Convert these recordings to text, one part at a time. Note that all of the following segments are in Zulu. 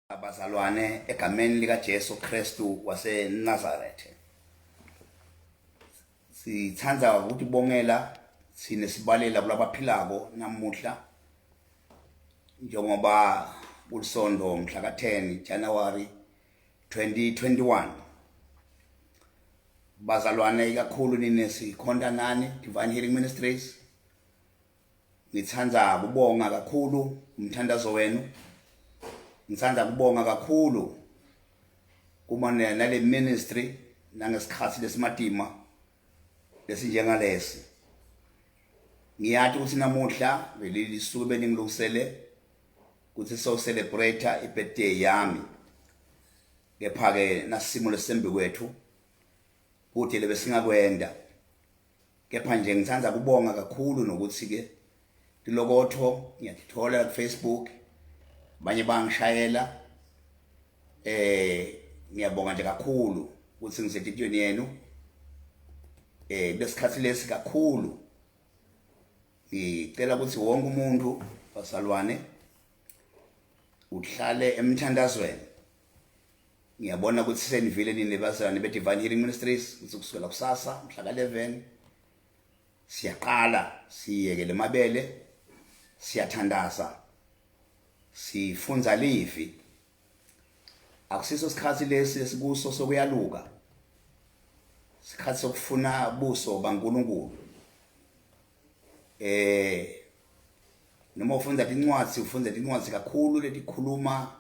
Abazalwane egameni lika Jesu Kristu wase Nazareth. Sithanda ukuthi bongela sine sibalela kulabaphilako namuhla njengoba kulisondo mhla ka 10 January 2021. Bazalwane ikakhulu nine sikhonta nani Divine Healing Ministries. Ngithanda kubonga kakhulu umthandazo wenu. Ngithanda kubonga kakhulu kuma nale ministry nangesikhathi lesimatima lesinjengalesi. Ngiyathi ukuthi namuhla leli suku beningilungisele ukuthi so celebrate ibirthday yami. Kepha ke nasimo lesembi kwethu kude lebesingakwenda. kepha nje ngithanda kubonga kakhulu nokuthi ke lilokotho ngiyalithola ku Facebook abanye bangishayela eh ngiyabonga nje kakhulu ukuthi ngisetitweni yenu eh besikhathi lesi kakhulu ngicela ukuthi wonke umuntu wasalwane uhlale emthandazweni ngiyabona ukuthi senivile nini bazalwane be-divine healing ministries ukuthi kusukela kusasa mhla ka-11 siyaqala siyekele mabele siyathandaza sifunza livi akusiso sikhathi lesi esikuso sokuyaluka sikhathi sokufuna buso baNkulunkulu eh noma ufunda incwadi ufunda incwadi kakhulu letikhuluma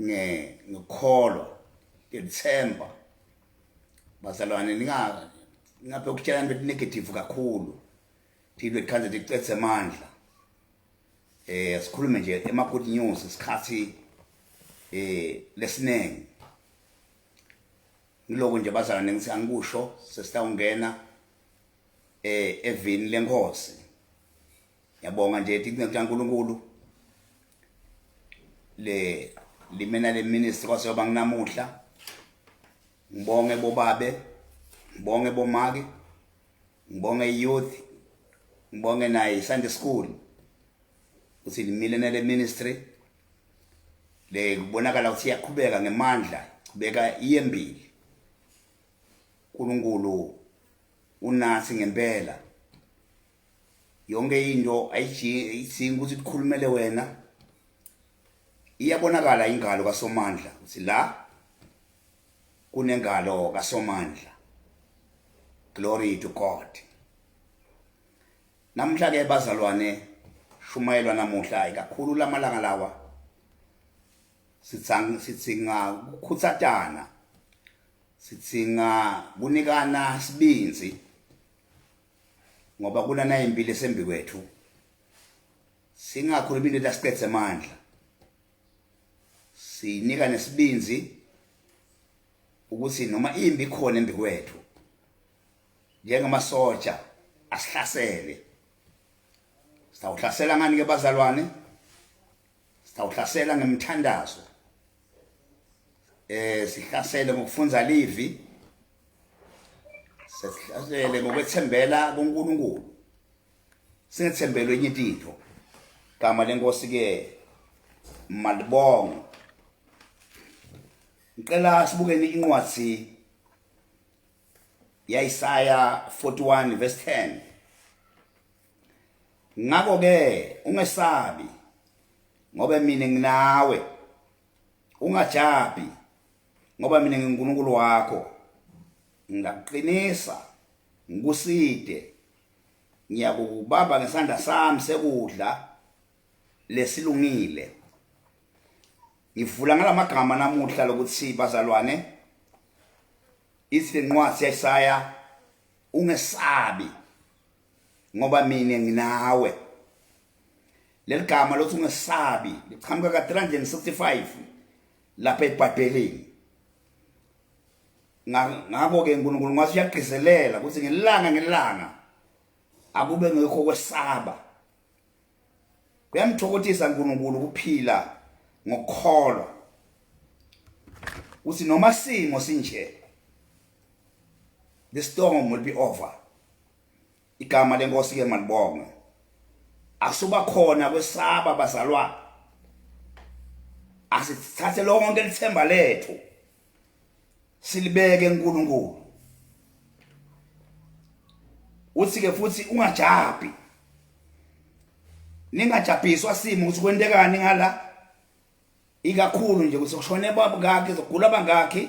nge ngikholwa ngithemba bazalwane ninga ngaphe ukutshela into negative kakhulu thilwe khanze licethe amandla eh asikhulume nje ema good news isikhathi eh lesiningi ngiloko nje bazalwane ngithi angikusho sesitawungena eh evini lenkosi yabonga nje ithi kuNkulunkulu le limena le ministry kwase yoba nginamuhla ngibonge bobabe ngibonge bomake ngibonge youth ngibonge naye Sunday school uthi limile nale ministry le kubonakala ukuthi iyaqhubeka ngemandla kubeka iyembili uNkulunkulu unathi ngempela yonke into ayidingi ukuthi kukhulumele wena iyabonakala ingalo kaSomandla ukuthi la kunengalo kaSomandla glory to God namhla ke bazalwane shumayelwa namuhla ikakhulu lamalanga lawa sitsang sitsinga ukukhutsatana sitsinga kunikana sibinzi ngoba kunana impilo esembi kwethu singakhulumi into lasiqedze amandla siyinika nesibinzi ukuthi noma imbi khona embi kwethu njengamasoja asihlasele sitawuhlasela ngani ke bazalwane sitawuhlasela ngemthandazo eh sihlasele ngokufunda livi sesihlasele ngokwethembela kuNkulunkulu singethembelwe enye into gama lenkosi ke malibongo ngicela sibukeni incwadi yaIsaya 41 verse 10 ngakho ke ungesabi ngoba mina nginawe ungajabhi ngoba mina nginguNkulunkulu wakho ngiyakuqinisa ngikuside ngiyakubamba ngesandla sami sekudla lesilungile ngivula ngalamagama namuhla lokuthi bazalwane ithi incwadi yaIsaya ungesabi ngoba mina nginawe leli gama lothi ungesabi liqhamuka ka-365 lapha ebhayibhelini ngakho-ke nkulunkulu ngase uyagqizelela ukuthi ngelanga ngelanga akube ngekho kwesaba kuyamthokothisa nkulunkulu ukuphila ngokukholwa ukuthi noma simo sinje the storm will be over igama lenkosi ke malibongwe asuba khona kwesaba bazalwa asithathe lonke lithemba lethu silibeke eNkulunkulu uthi ke futhi ungajabhi ningajabhiswa simo ukuthi kwentekani ngala ikakhulu nje ukuthi kushone baba kakhe zogula bangakhe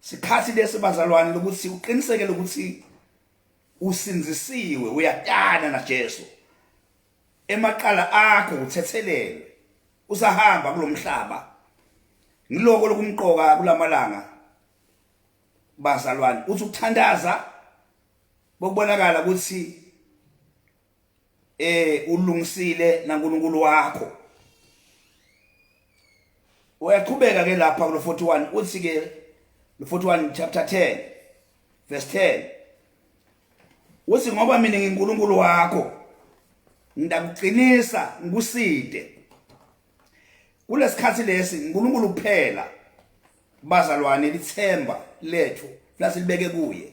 sikhathi lesi bazalwane lokuthi uqiniseke lokuthi usinzisiwe uyatana na Jesu emaqala akho uthethelelwe usahamba kulomhlaba ngiloko lokumqoka kulamalanga bazalwane uthi ukuthandaza bokubonakala ukuthi eh ulungisile naNkulunkulu wakho uyaqhubeka ke lapha kulo 41 uthi ke lo 41 chapter 10 verse 10 uthi ngoba mina ngiNkulunkulu wakho ndakuqinisa ngikuside kulesikhathi lesi uNkulunkulu kuphela bazalwane lithemba lethu lasilibeke kuye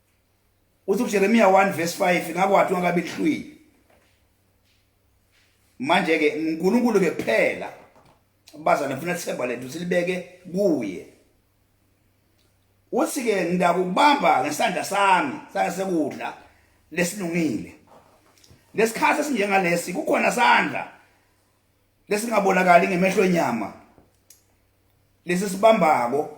uthi uJeremiya 1 verse 5 ngakwathi wangabe lihlwile manje ke uNkulunkulu ke kuphela bazana ngifuna sithemba lethu silibeke kuye uthi ke ngidakubamba ngesandla sami sasekudla lesilungile lesikhathi esinjengalesi kukhona sandla lesingabonakali ngemehlo enyama lesi sibambako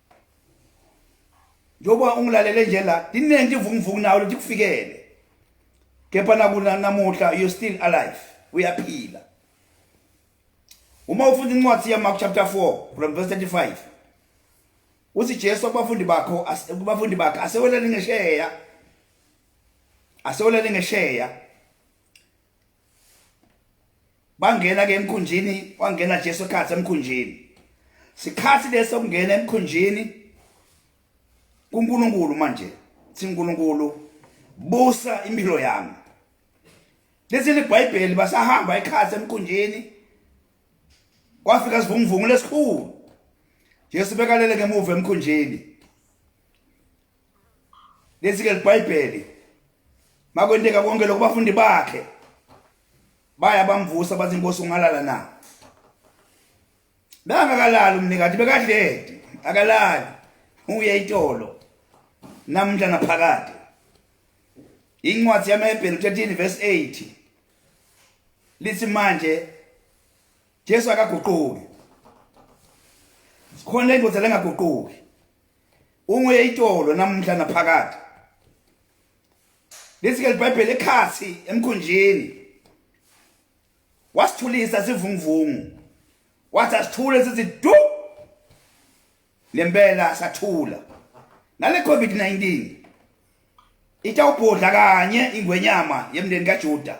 njengoba ungilalele nje la liningi ivunguvungu nawo lithi kufikele kepha nakuna namuhla you still alive uyaphila uma ufunda incwadi yaMark chapter 4 from verse 35 uthi Jesu kubafundi bakho kubafundi bakhe asewelele ngesheya asewelele ngesheya bangena ke emkhunjini wangena Jesu ekhathi emkhunjini sikhathi leso kungena emkhunjini kuNkulunkulu manje siNkulunkulu busa impilo yami lesi libhayibheli basahamba ekhathi emkhunjini kwafika sivunguvungu lesikhulu Jesu bekalele ngemuva emkhunjini lezike libhayibheli makwenteka konke lokho bafundi bakhe baya bamvusa bathi inkosi ungalala na bengakalali umnikati bekadledi akalali uye itolo namhla naphakade incwadi yamahebheli 13 verse 8 lithi manje Jesu akaguquki sikhona indoda lengaguquki unguye itolo namuhla naphakade lithi ke libhayibheli ekhathi emkhunjini wasithulisa sivunguvungu wathi asithule sithi du lempela sathula nale covid 19 itawubhodla kanye ingwenyama yemndeni kaJuda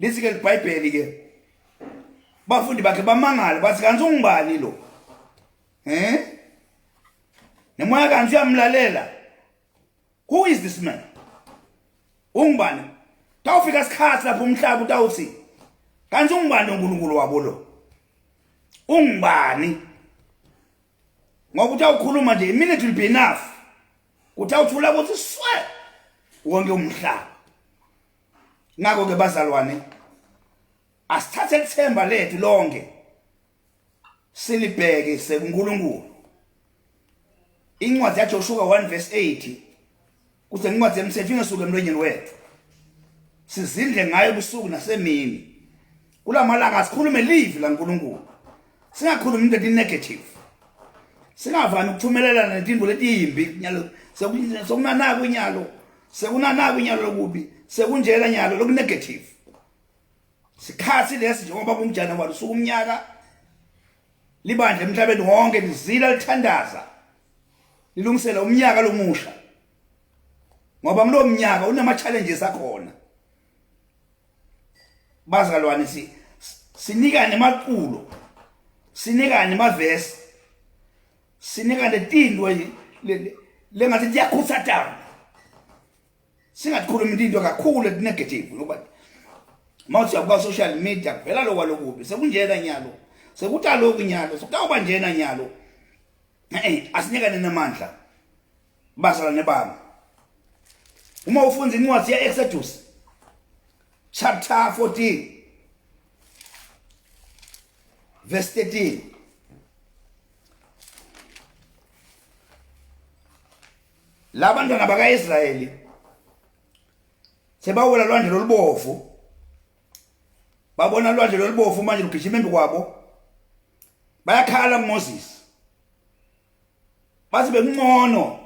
lithi ke libhayibheli ke bafundi bakhe bamangale bathi kanti ungubani lo eh nemoya kanti uyamlalela who is this man ungubani tawufika isikhathi lapho umhlaba utawuthi kanti ungubani uNkulunkulu wabo lo ungubani ngoba utawukhuluma nje iminute will be enough utawuthula ukuthi swe wonke umhlaba ngakho ke bazalwane asithathe ithemba lethu lonke silibheke sekuNkulunkulu incwadi yaJoshuwa 1 verse 8 kuthi incwadi yemthetho ingasuke emlonyeni wethu sizindle ngayo ubusuku nasemini kula malanga sikhulume live la nkulunkulu singakhulumi into eti-negative singavani ukuthumelelana netinto letiyimbi nyalo sekunanako inyalo sekunanako inyalo lokubi sekunjena nyalo lokunegative sikhathi lesi njengoba kumjana walo suku umnyaka libandla emhlabeni wonke lizila lithandaza lilungisela umnyaka lomusha ngoba kulomnyaka unama challenges akhona bazalwane si sinikane maculo sinikane mavesi sinikane tintwe lengathi liyakhuthatana singakhulumi into kakhulu ekunegative ngoba mawuthi yakuba social media kuvela lokwa lokubi sekunjena nyalo sekuthi aloku nyalo sekutawuba njena nyalo eh asinikane namandla Bazala nebanga. Uma ufunda incwadi yeExodus chapter 14 verse 13 labantwana bakaIsrayeli sebawela lwandle lolubovu babona lwandle lolubovu manje lugijima embi kwabo bayakhala kuMoses bathi bekuncono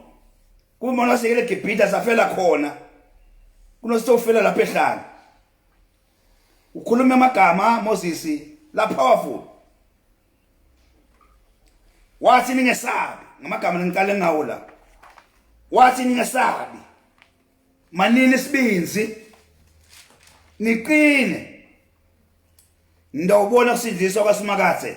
kuma lasekele Gibhida safela khona kunositofela lapha ehlanga ukhuluma amagama Moses la powerful wathi ningesabi ngamagama ngiqale ngawo la wathi ningesabi manini isibinzi niqine ndawubona kusindiswa kwaSimakathe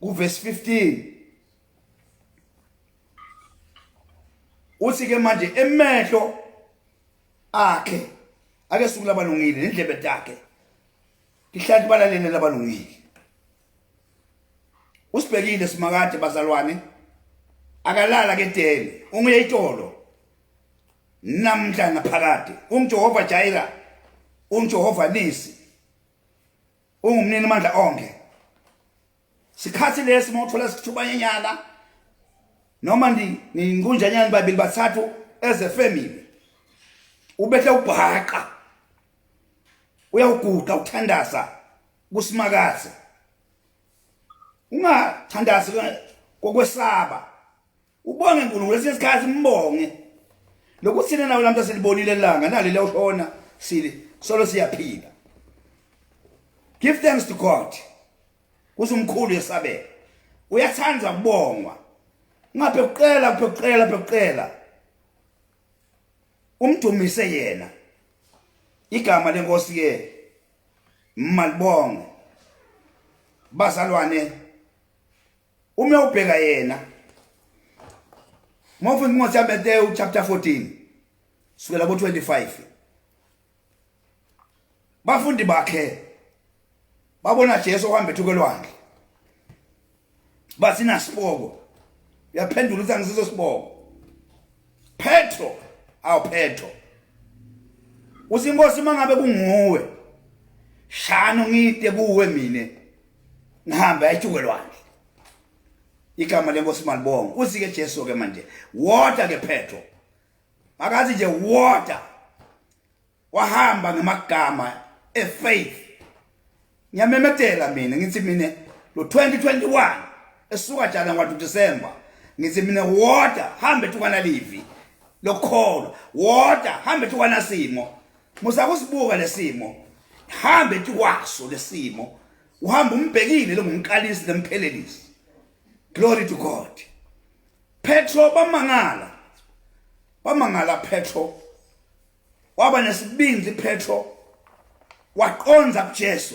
kuvesi 15 uthi ke manje emehlo akhe ake suku labalungile nendlebe takhe ihlathi balalene labalungile usibhekile simakade bazalwane akalala ke dele unguye itolo namhla naphakade unguJehova Jaira unguJehova Nisi ungumnini mandla onke sikhathi lesi mawuthola isithuba nyenyana noma ndi ninkunjanyana babili bathathu as a family ubehle ubhaqa uyawuguqa uthandaza kusimakaze ungathandazi kokwesaba Ubonge uNkulunkulu kwesinye isikhathi mbonge. Lokuthina nawe lamhla silibonile elanga nali lewushona sili solo siyaphila. Give thanks to God. Kuze umkhulu yesabela. Uyathanda kubongwa. Ngabe uqela uqela uqela. Umdumise yena. Igama lenkosi ke malibonge bazalwane uma ubheka yena uma ufunda incwadi yaMateyu chapter 14 sukela ku-25 bafundi bakhe babona Jesu ohamba ethuke lwandle basina siboko uyaphendula ukuthi angisiso siboko Petro awu Petro usinkosi mangabe kunguwe shano ngide kuwe mina ngihambe ayithuke lwandle igama lenkosi malibonga usike Jesu ke manje water ke phetho makathi nje water wahamba ngamagama efaith ngiyamemethela mina ngithi mina lo 2021 esuka jana ngwa December ngithi mina water hambe tukana livi lokholwa water hambe tukana simo Musa kusibuka lesimo. Hambe kwaso lesimo. Uhamba umbhekile lengumqalisi lemphelelisi. Glory to God. Petro bamangala. Bamangala Petro. Waba nesibindi Petro. Waqonza kuJesu.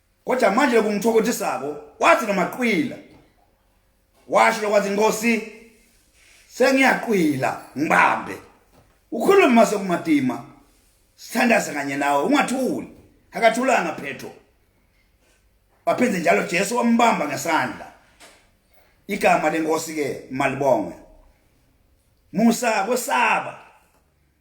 kodwa manje lokungithokotisako wathi nomaqwila washo lokwathi inkosi sengiyaqwila ngibambe ukhuluma sekumadima sithandaze kanye nawe ungathuli akathulanga phetho waphinde njalo Jesu wambamba ngesandla igama lenkosi ke malibonge musa kwesaba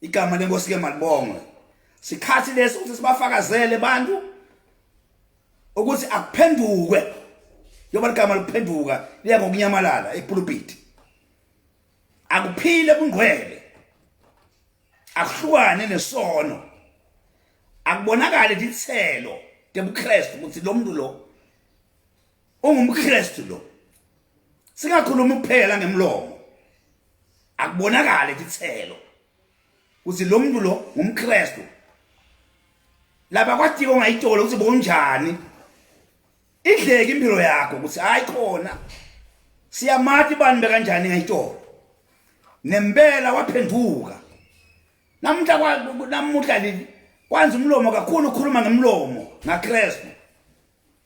igama lenkosi ke malibongwe sikhathi lesi ukuthi sibafakazele abantu ukuthi akuphenduke yoba ligama liphenduka liya ngokunyamalala epulpiti akuphile kungqwele akuhlukane nesono akubonakale lithelo tebuKristu ukuthi lo muntu lo ungumKristu lo singakhuluma kuphela ngemlomo akubonakale kithelo ukuthi lo muntu lo ngumKristu laba kwatiko ongayitolo ukuthi bonjani idleke impilo yakho ukuthi hayi khona siyamati bani bekanjani ngayitolo nempela waphenduka namuhla kwa namuhla leli kwanza umlomo kakhulu ukhuluma ngemlomo ngaKristu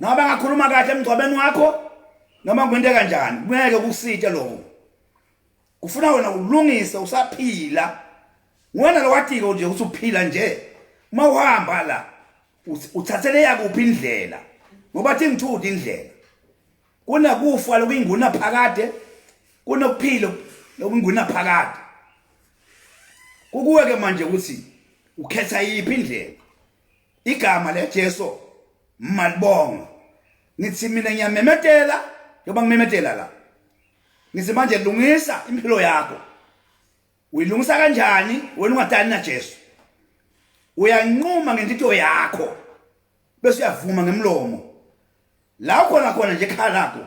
Ngabe ngakhuluma kahle emgcwabeni wakho noma kwento kanjani ngeke kusitshe lokho. Kufuna wena ulungise usaphila. Wena lowathiko nje usuphila nje. Uma uhamba la uthathele yakuphi indlela ngoba thi ngithuthi indlela. Kunakufa lokuyinguna phakade kunokuphilo lokunguna phakade. Kukuwe ke manje ukuthi ukhetha yiphi indlela. igama leJesu malibonga ngithi mina ngiyamemetela njengoba ngimemetela la ngithi manje lungisa impilo yakho uyilungisa kanjani wena ungadani naJesu uyanquma ngentito yakho bese uyavuma ngemlomo la khona khona nje ekhala lakho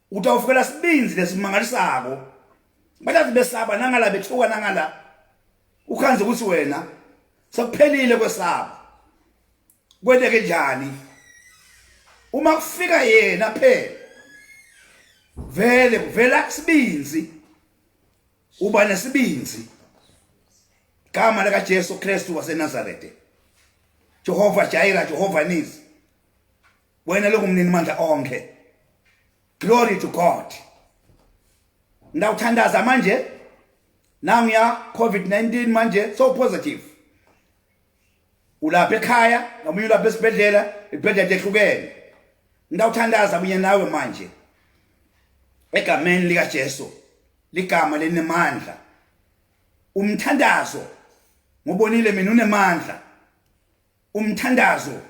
Utawufukela sibinzi lesimangalisako. Balazi besaba nangala bethuka nangala. Ukhanze ukuthi wena sekuphelile kwesaba. Kweleke njani? Uma kufika yena phela vele kuvela isibinzi uba nesibinzi gama lika Jesu Kristu waseNazareth Jehova Jaira Jehova Nisi wena lokhu mnini mandla onke glory to god ngiyawuthandaza manje nangu ya covid-19 manje so positive ulapha ekhaya nomunye ulapha esibhedlela ibhedlela ehlukene ngiyawuthandaza kunye nawe manje egameni likaJesu ligama lenemandla umthandazo ngubonile mina unemandla umthandazo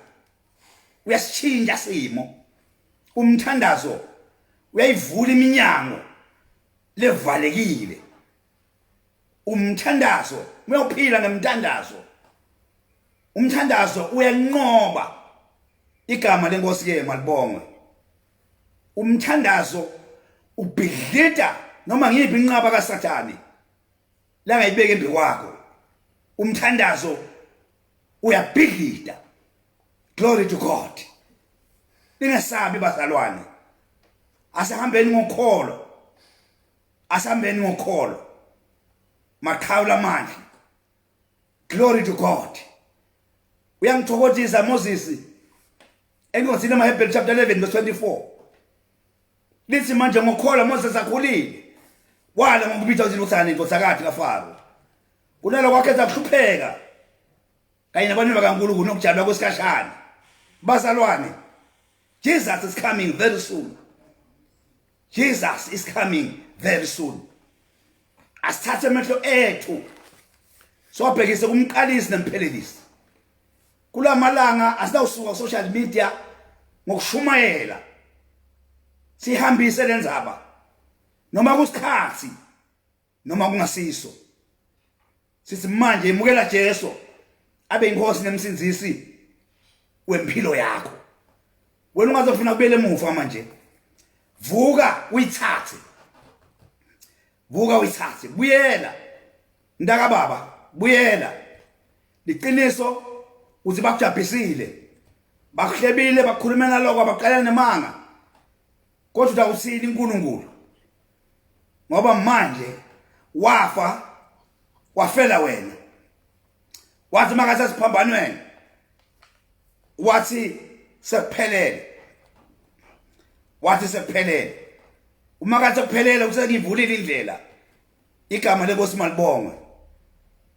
uyasitshintsha simo umthandazo uyayivula iminyango levalekile umthandazo uyophila ngemthandazo umthandazo uyanqoba igama lenkosi ke malibongwe umthandazo ubhidlita noma ngiyiphi inqaba kaSathane langayibeka embi kwakho umthandazo uyabhidlida glory to god ningesabi bazalwane asihambeni ngokholo asihambeni ngokholo maqhawula amandla glory to god uyangithokozisa moses engiwazile emahebheli chapter 11 verse 24 lithi manje ngokholwa mose sakhulile wala ngokubitha ukuthi uthani inkosakathi kaFaro kunalo kwakhe zakuhlupheka kanye nabantu bakaNkulunkulu nokujalwa kwesikashana bazalwane Jesus is coming very soon Jesus is coming very soon asithathe amehlo ethu siwabhekise kumqalisi nemphelelisi kulamalanga asinawusuka ku social media ngokushumayela sihambise lenzaba noma kusikhathi noma kungasiso sithi manje imukela Jesu abe inkosi nemsinzisi wempilo yakho wena ungazofuna kubele emuva manje vuka uyithathe vuka uyithathe buyela Mntaka baba buyela liqiniso uthi bakujabhisile bakuhlebile bakhulumela lokho abaqalela nemanga kodwa utawusini uNkulunkulu ngoba manje wafa wafela wena wathi makasesiphambanweni wathi sekuphelele wathi sekuphelele uma kathi sekuphelele usenivulile indlela igama lenkosi malibongwe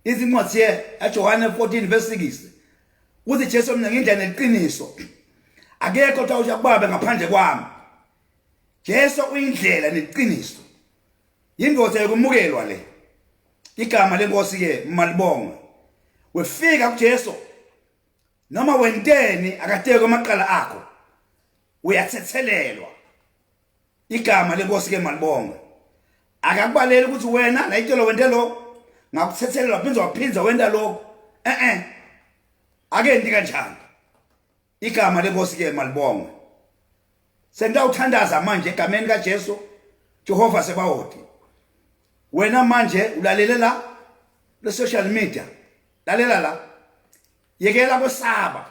izincwadi ye aJohane 14 verse 6 uthi Jesu mina ngindlela neqiniso akekho othi awusha kubaba ngaphandle kwami Jesu uyindlela neqiniso indoda yokumukelwa le igama lenkosi ke malibongwe wefika kuJesu noma wenteni akateke amaqala akho uyathethelelwa igama lenkosi ke malibonga akakubaleli ukuthi wena nayitelo wente lokho ngakuthethelela waphinda waphinda wenta lokho eh eh akendi kanjani igama lenkosi ke malibonga sengiyawuthandaza manje egameni kaJesu Jehova sebawoti wena manje ulalele la le social media lalela la yekela kwesaba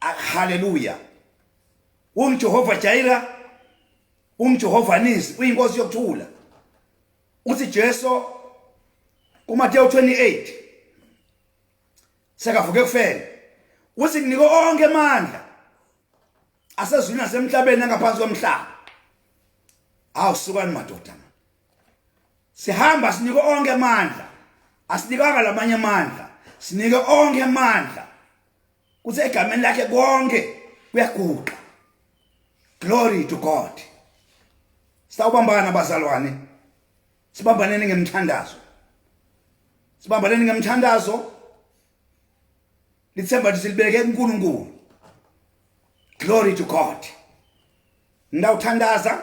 Ah, haleluya ungijehova jaira ungijehova nisi uyinkosi yokuthula uthi jesu kumateyu 28 sekavuke kufela uthi kunike onke amandla asezwini nasemhlabeni angaphansi komhlaba hawu sukani madoda sihamba sinike onke amandla asinikanga lamanye amandla sinike onke amandla kuthi egameni lakhe konke kuyaguqa glory to god sawubambana bazalwane sibambaneni ngemthandazo sibambaneni ngemthandazo lithemba lithi silibeke kuNkulunkulu glory to god ngawuthandaza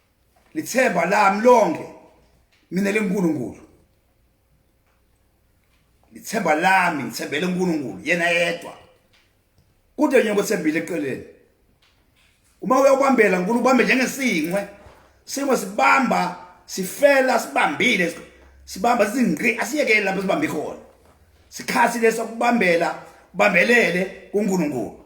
lithemba lami lonke mina lenkulunkulu lithemba lami ngithembele uNkulunkulu yena yedwa kude nje ngothembile eqeleni uma uyobambela uNkulunkulu ubambe njengesingwe singwe sibamba sifela sibambile sibamba sizingqi asiyekele lapho sibambe khona sikhathi leso kubambela ubambelele kuNkulunkulu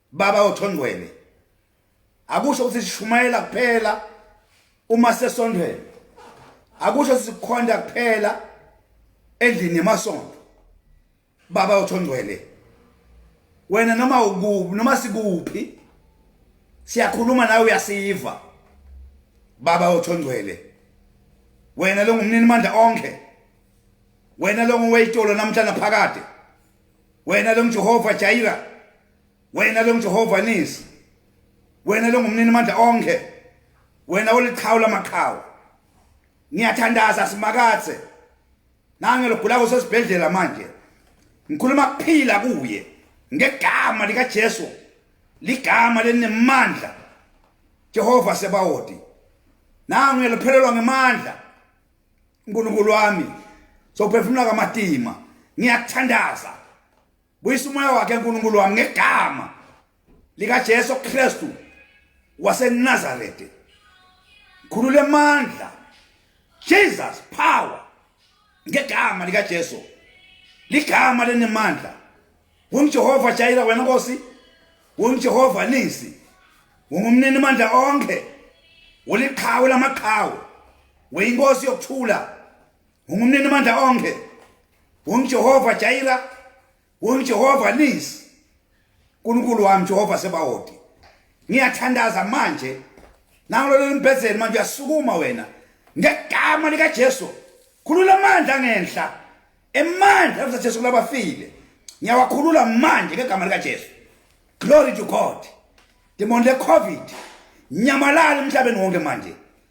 baba othondwele akusho ukuthi sishumayela kuphela uma sesondwele akusho sikhonda kuphela endlini yemasonto baba othondwele wena noma ukuphi noma sikuphi siyakhuluma nawe uyasiva baba othondwele wena lo ngumnini mandla onke wena lo ngoweyitolo namhlanje phakade wena lo mJehova Jaira wena ke uJehova nisi wena ke ngumnini amandla onke wena oliqhawu lamaqhawu ngiyathandaza simakathe nange logula kusesibhedlela manje ngikhuluma kuphila kuye ngegama likaJesu ligama lenemandla Jehova sebawoti nangu ngiyalophelelwa ngemandla uNkulunkulu wami sophefumula kamatima ngiyathandaza buyisa umoya wakhe nkulunkulu wami ngegama likajesu kristu wasenazarete khulula emandla jesus power ngegama likajesu ligama lenemandla wengijehova jayira wena nkosi wengijehova nisi wengumnini mandla onke uliqhawe lamaqhawe weyinkosi yokuthula ungumnini mandla onke ungijehova jayira ungijehova nisi nkulunkulu wami jehova sebawoti ngiyathandaza manje nangloleli mbhedzeni manje uyasukuma wena ngegama likajesu khulula amandla ngenhla emandla avuza jesu kulabafile ngiyawakhulula manje ngegama likajesu glory to god demon le-covid nyamalala emhlabeni wonke manje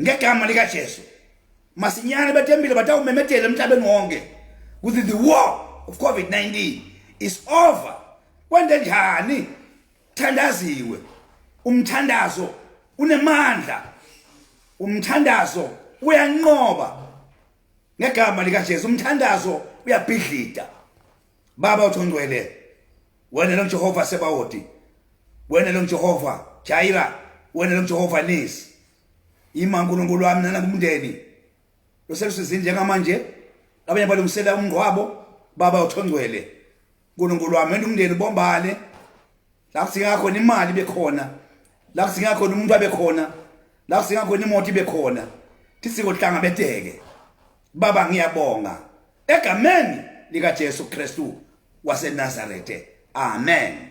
ngegama likaJesu masinyane batembile batawumemedela emhlabeni wonke ukuthi the war of covid-19 is over kwente njani thandaziwe umthandazo unemandla umthandazo uyanqoba ngegama likaJesu umthandazo uyabhidlida baba uthi ungcwele wena lo Jehova sebawoti wena lo Jehova Jaira wena lo Jehova Nisi ima uNkulunkulu wami nana kumndeni loselusizini njengamanje abanye balungisela umngqwabo baba uthongcwele uNkulunkulu wami wena umndeni bombane la kusinga khona imali bekhona la kusinga khona umuntu abekhona la kusinga khona imoto ibekhona thisiko hlanga beteke Baba ngiyabonga egameni lika Jesu Kristu waseNazarethe. Amen.